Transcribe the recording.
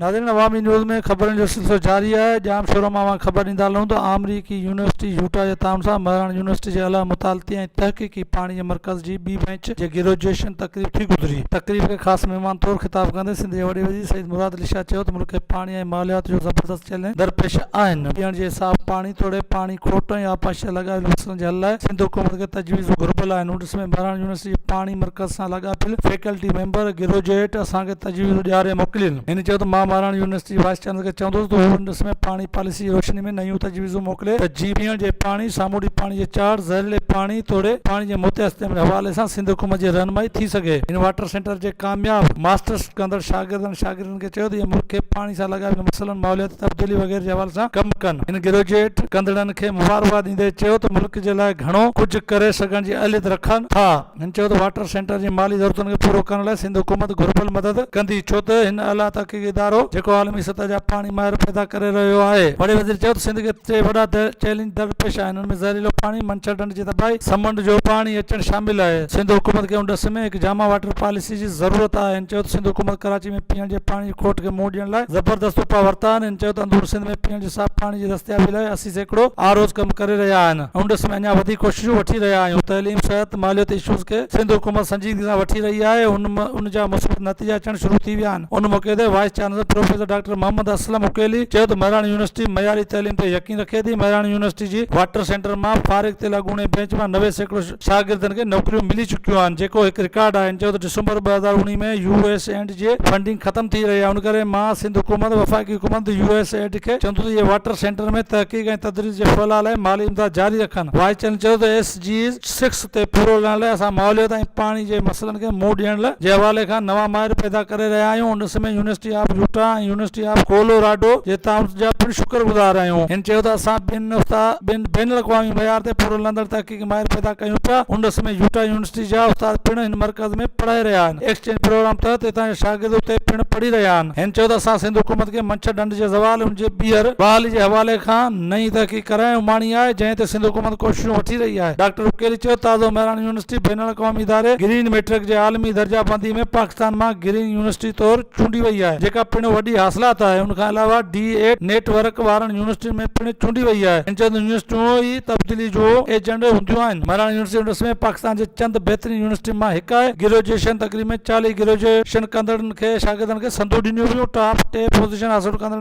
ناظرين عوامي نيوز ۾ خبرن جو سلسلو جاري آهي ڄام شورو مان اوهان کي خبر ڏيندا هلون ته آمريڪي يونيورسٽي يوٽا جي تعاون سان مهراڻ يونيورسٽي جي اعليٰ مطالعتي ۽ تحقيقي پاڻي جي مرڪز جي ٻي بئنچ جي گريجوئيشن تقريب ٿي گذري تقريب کي خاص مهمان طور خطاب ڪندي سنڌ جي وڏي وزير سيد مراد علي شاهه چيو ته ملڪ کي پاڻي ۽ ماليات جو زبردست چئلينج درپيش آهن پيئڻ جي صاف پاڻي توڙي پاڻي کوٽ ۽ آبپاشي سان لاڳاپيل مسئلن ڪرڻ جي حل لاء سنڌ حڪومت کي تجويزون گهربل آهن نوٽس ۾ مهراڻ يونيورسٽي جي پاڻي مرڪز سان لاڳاپيل فيڪلٽي ميمبر گروجوئيٽ اسان کي تجويزون ڏياري موڪلين هن چيو ته مان مهراڻ يونيورسٽي جي وائيس چانسلر کي چوندس ته هو نوٽس ۾ پاڻي پاليسي جي روشني ۾ نيون تجويزون موڪلي ته جيئن پيئڻ جي پاڻي سامونڊي پاڻي جي چاڙهه زهريلي پاڻي توڙي پاڻي جي متياستعمال جي حوالي سان سنڌ حڪومت جي رهنمائي ٿي سگهي هن واٽر سينٽر جي ڪامياب ماسٽرس ڪندڙ شاگردن ۽ شاگردين هن کي چيو ته اهي ملڪ کي پاڻي سان لڳاء جي مسئلن، ماحولياتي تبديلي وغيره جي حوالي سان ڪم ڪن. هن گريجوئيٽ ڪندڙن کي مبارڪباد ڏيندي چيو ته ملڪ جي لاء گهڻو ڪجهه ڪري سگهڻ جي اهليت رکن ٿا. هن چيو ته واٽر سينٽر جي مالي ضرورتن کي پورو ڪرڻ لاء سنڌ حڪومت گهربل مدد ڪندي ڇو ته هن اعليٰ تحقيقي ادارو جيڪو عالمي سطح جا پاڻي ماهر پيدا ڪري رهيو آهي. وڏي وزير چيو ته سنڌ کي ٽي وڏا چئلينج درپيش آهن. ۾ زهريلو پاڻي منڇر ڍنڍ جي تباهي سمنڊ جو پاڻي اچڻ شامل آهي سنڌ حڪومت کي ان ڏس ۾ هڪ جامع واٽر پاليسي جي ضرورت آهي هن چيو ته سنڌ حڪومت ڪراچي ۾ پيئڻ جي پاڻي جي کوٽ کي منهن ڏيڻ لاء زبردست اپاء ورتا آهن هن چيو ته اندور سنڌ ۾ پيئڻ جي صاف پاڻي جي دستيابي لاء اسي سيڪڙو آروز ڪم ڪري رهيا آهن ان ڏس ۾ اڃا وڌيڪ ڪوششون وٺي رهيا آهيون تعليم صحت ماليت اشوز کي سنڌ حڪومت سنجيدگي سان وٺي رهي آهي ان ان جا مثبت نتيجا اچڻ شروع ٿي ويا آهن ان موقعي تي vice chancellor professor doctor Muhammad Aslam Aqeeli چيو ته مهراڻ يونيورسٽي معياري تعليم تي يقين ان قيدي مهراڻ يونيورسٽي جي واٽر سينٽر مان فارغ ٿيل اڳوڻي بينچ مان نوي سيڪڙو شاگردن کي نوڪريون ملي چڪيون آهن جيڪو هڪ رڪارڊ آهي هن چيو ته ڊسمبر ٻه هزار اوڻيهه ۾ يو ايس ايڊ جي فنڊنگ ختم ٿي رهي آهي ان ڪري مان سنڌ حڪومت وفاقي حڪومت يو ايس ايڊ کي چوندو ته اهي واٽر سينٽر ۾ تحقيق ۽ تدريس جي ڦهلاء لاء مالي امداد جاري رکن وائيس چيئرمين چيو ته ايس جي سيڪس تي پورو لهڻ لاء اسان ماحوليات ۽ پاڻي جي مسئلن کي منهن ڏيڻ لاء جي حوالي کان نوان ماهر پيدا ڪري رهيا آهيون ان سمي university of Utah ۽ university of Colorado جي تعاون جا پڻ شڪر گذار آهيون هن چيو ته اسان ٻن استاد ٻن بين الاقوامي معيار تي پورو لهندڙ تحقيقي ماهر پيدا ڪيون پيا ان سمي يوٽا يونيورسٽي جا استاد پڻ هن مرڪز ۾ پڙهائي رهيا آهن ايڪسچينج پروگرام تحت هتان جا شاگرد اتي پڻ پڙهي رهيا آهن هن چيو ته اسان سنڌ حڪومت کي منڇر ڍنڍ جي زوال ان جي ٻيهر بحالي جي حوالي کان نئين تحقيق ڪرائڻ جو معني آهي، جنهن تي سنڌ حڪومت ڪوششون وٺي رهي آهي. ڊاڪٽر عقيلي چيو ته تازو مهراڻ يونيورسٽي بين الاقوامي اداري گرين ميٽرڪ جي عالمي درجه بندي ۾ پاڪستان مان گرين يونيورسٽي طور چونڊي وئي آهي، جيڪا پڻ وڏي حاصلات آهي، ان کان علاوه ڊي ايٽ نيٽ ورڪ وارن يونيورسٽين ۾ پڻ چونڊي وئي آهي، هن چيو ته يونيورسٽيون ئي تبديلي جو ايجنڊ هونديون آهن، مهراڻ يونيورسٽي انڊس ۾ پاڪستان جي چند بهترين يونيورسٽين مان هڪ آهي، گروجيئشن تقريب ۾ چاليهه گروجيئشن ڪندڙن کي شاگردن کي سندون ڏنيون ويون، ٽاپ ٽي پوزيشن حاصل ڪندڙن